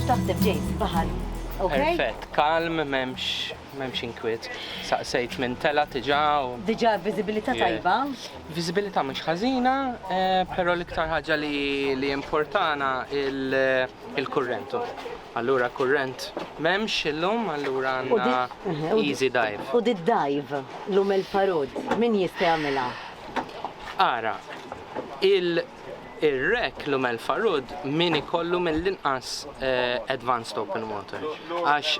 X'taħseb ġej fil-baħar? Perfett, kalm, memx, memx inkwiet. Saqsejt minn tela tiġa u. Diġa viżibilità tajba? Viżibilità mhux ħażina, eh, però l-iktar ħaġa li importana il-kurrentu. Allura kurrent memx illum, allura għandna mhm, easy dive. U di dive l-um il-farod, min jista' jagħmilha? Ara, Ir-Rec Lumel Farud min ikollu mill-inqas advanced open water għax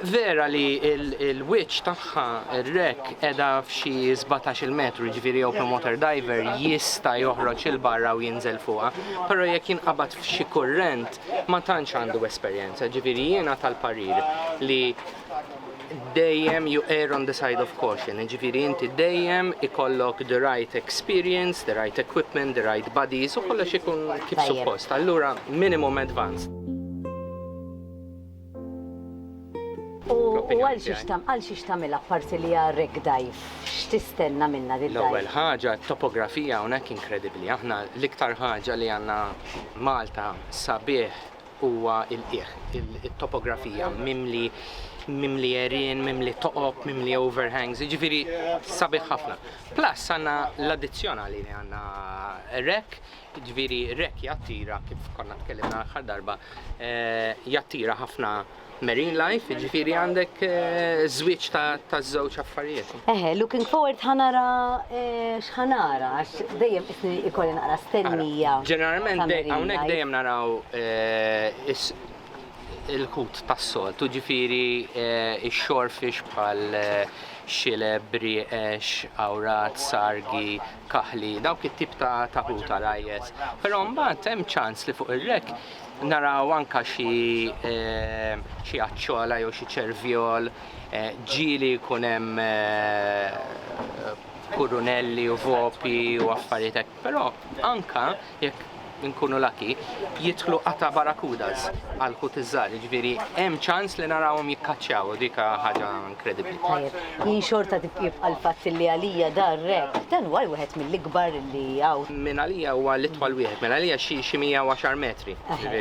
vera li l-wiċċ tagħha, ir-Rec, qiegħda f'xi sbatax-il metru, jiġifieri open water diver jista' joħroġ 'il barra u jinżel fuqha, però jekk jinqabad f'xi kurrent ma tantx għandu esperjenza, jiġifieri jiena tal-parir li dejjem you err on the side of caution, jiġifieri inti dejjem ikollok the right experience, the right equipment, the right buddies u kollox ikun kif suppost. Allura minimum advanced. U għal xiex tagħmel, għal xiex tagħmilha apparti li hija wreck dive? X'tistenna minnha din id-dive? L-ewwel ħaġa t-topografija hawnhekk inkredibbli. Aħna l-iktar ħaġa li għandna Malta sabiħ huwa l-qiegħ, it-topografija, mimli mimli għerien, mimli toqob, mimli overhangs, jiġifieri sabiħ ħafna. Plus għandna l-addizzjonali li għandna rek, jiġifieri rek jattira kif konna tkellimna l-aħħar darba, eh, jattira ħafna marine life, jiġifieri għandek eh, żwieġ ta' żewġ affarijiet. Eħe, looking forward ħanara eh, x'ħanara għax dejjem isni ikolli naqra stennija. Ġeneralment hawnhekk dejjem naraw eh, il-kut tas-sol, tuġifieri ix-xorfix bħal xileb, brieqex, awrat, sargi, kaħli, dawk it-tip ta' taħuta rajjes. Però mbagħad hemm ċans li fuq ir-rek Naraw anka xi xi għaċċola jew xi ċervjol ġieli jkun hemm kurunelli u vopi u affarijiet hekk. Però anka jekk inkunu laki, jidħlu qata' barakudas għal ħut iż-żgħar, jiġifieri hemm ċans li narawhom jikkaċċjaw u dika ħaġa kredibbli. Tajjeb, jien xorta jibqa' l-fatt li għalija dar re, dan huwa wieħed mill-ikbar li hawn. Minn għalija huwa l-itwal wieħed, mela għalija xi 110 metri.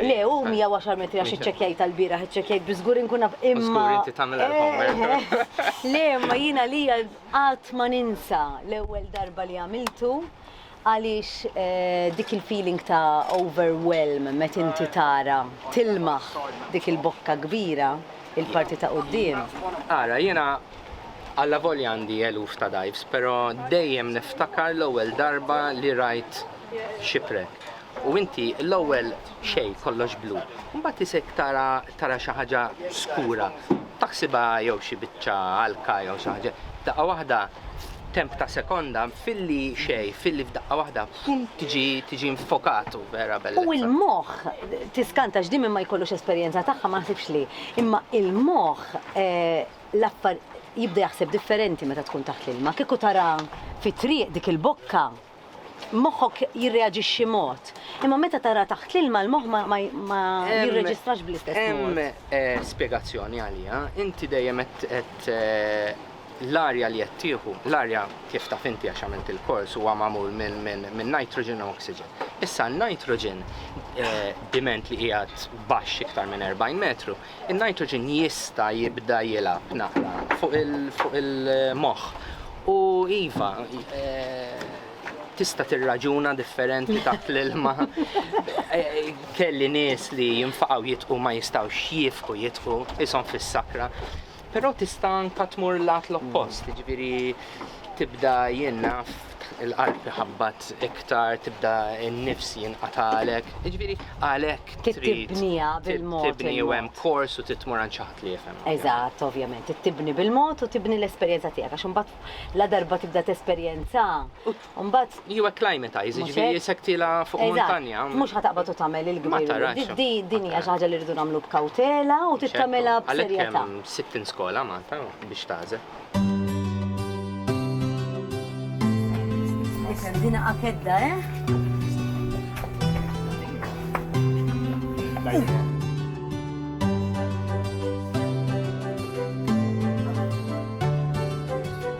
Le, hu 110 metri għax iċċekkjajtha l-bieraħ, iċċekkjajt biex żgur inkun naf imma. Żgur inti tagħmel l-homework. Le, imma jien għalija qatt ma ninsa l-ewwel darba li għamiltu Għaliex dik il-feeling ta' overwhelm met inti tara tilmaħ dik il-bokka kbira, il-parti ta' quddiem? Ara, jiena allavolja għandi eluf ta' dives, però dejjem niftakar l-ewwel darba li rajt shipwreck. U inti l-ewwel xejn kollox blu, mbagħad isek tara tara xi ħaġa skura, taħsibha jew xi biċċa għalka jew xi ħaġa, daqqa waħda temp ta' sekonda filli xejn, filli f'daqqa waħda pum tiġi tiġi nfokat u vera bellezza. U l-moħħ tiskanta x'di min ma jkollux esperjenza tagħha ma ħsibx li, imma l-moħħ l-affar jibda jaħseb differenti meta tkun taħt l-ilma, kieku tara fit-triq dik il-bokka, moħħok jirreaġixxi mod. Imma meta tara taħt l-ilma l-moħħ ma jirreġistrax bl-istess. Hemm eh, spjegazzjoni għalija, inti dejjem qed eh, l-arja li qed tieħu, l-arja kif taf inti għax għamilt il-kors huwa magħmul minn nitrogen u oxygen. Issa n-nitrogen eh, diment li qiegħed baxx iktar minn 40 metru In-nitrogen jista' jibda jilgħab naqra fuq il-moħħ u iva, tista' tirraġuna differenti taħt l-ilma. Kelli nies li jinfaqgħu jitqu ma jistgħux jiefqu jitqu, qishom fis-sakra. Però tista' anke tmur l-għat l-oppost, jiġifieri tibda jien naf il-qalb iħabbat iktar, tibda n-nifs jinqatalek. Jiġifieri għalhekk trid tibniha bil-mod. Tibni u hemm kors u trid tmur għand xi ħadd li jifhem. Eżatt, ovvjament, trid tibni bil-mod u tibni l-esperjenza tiegħek għax imbagħad la darba tibda tesperjenza. u mbagħad. Jew acclimatize, jiġifieri sekktilha fuq muntanja. Eżatt, mhux ħa taqbad u tagħmel il-kbir. Din hija xi ħaġa li rridu nagħmlu b'kawtela u trid tagħmilha b'serjetà. Għalhekk hemm 60 skola Malta biex tagħżel. Isem' din akedda, eh?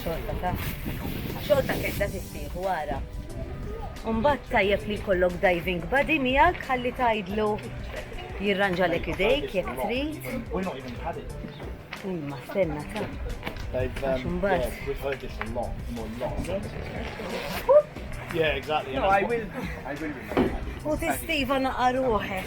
Xogħol ta' kedda tissieħ wara. Umbat tajjeb li jkollok diving buddy miegħek ħalli tgħidlu jirranġalek idejk jekk trid. Imma stenna ta'. Yeah, exactly. No, I will. I will. U tistiva naqaruħek.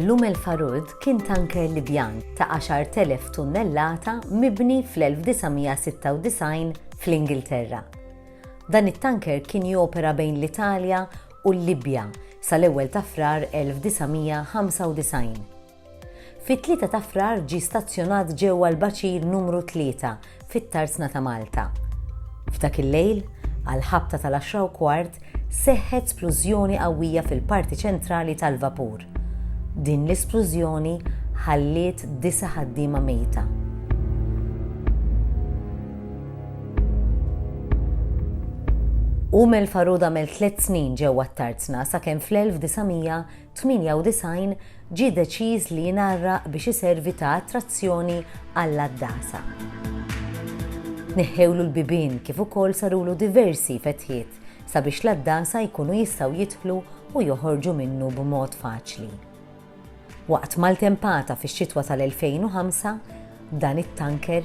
L-Umm El Farood kien tanker Libjan ta' 10,000 tunnellata mibni fl-1996 fl-Ingilterra. Dan it-tanker kien jopera bejn l-Italja u l-Libja sal-ewwel ta' Frar 1995. Fit-Tlieta ta' Frar ġie stazzjonat ġewwa l-baċir numru tlieta fit-Tarzna ta' Malta. F'dak il-lejl, għall-ħabta tal-għaxra u kwart, seħħet splużjoni qawwija fil-parti ċentrali tal-vapur. Din l-isplużjoni ħalliet disa' ħaddiema mejta. Umel Farud għamel tliet snin ġewwa t-Tarzna sakemm fl-1900 98 ġie deċiż li jingħarraq biex iservi ta' attrazzjoni għall-għaddasa. Tneħħewlu l-bibien kif ukoll sarulu diversi fetħiet sabiex l-għaddasa jkunu jistgħu jidħlu u joħorġu minnu b'mod faċli. Waqt maltempata fix-xitwa tal-2005, dan it-tanker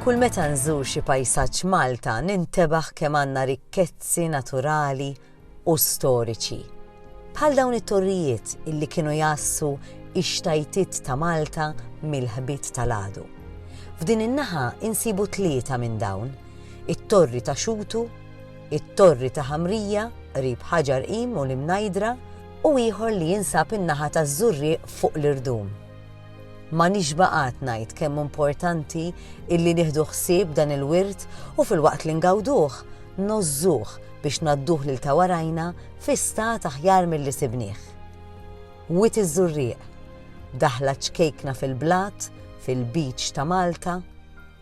Kull meta nżur xi pajsaġġ Malta nintebaħ kemm għandna rikkezzi naturali, u storiċi, bħal dawn it-torrijiet illi kienu jgħassu x-xtajtiet ta' Malta mill-ħbit tal-għadu. F'din in-naħa insibu tlieta minn dawn, it-Torri ta' Xutu, it-Torri ta' Ħamrija qrib Ħaġar Qim u l-Imnajdra u ieħor li jinsab in-naħa taż-Żurrieq fuq l-Irdum. Ma nixba' qatt ngħid kemm hu mportanti illi nieħdu ħsieb dan il-wirt u filwaqt li ngawduh, ngħożżuh biex ngħadduh lil ta' warajna fi stat aħjar milli sibnieh. Wied iż-Żurrieq, daħla ċkejkna fil-blat, fil-beach ta' Malta,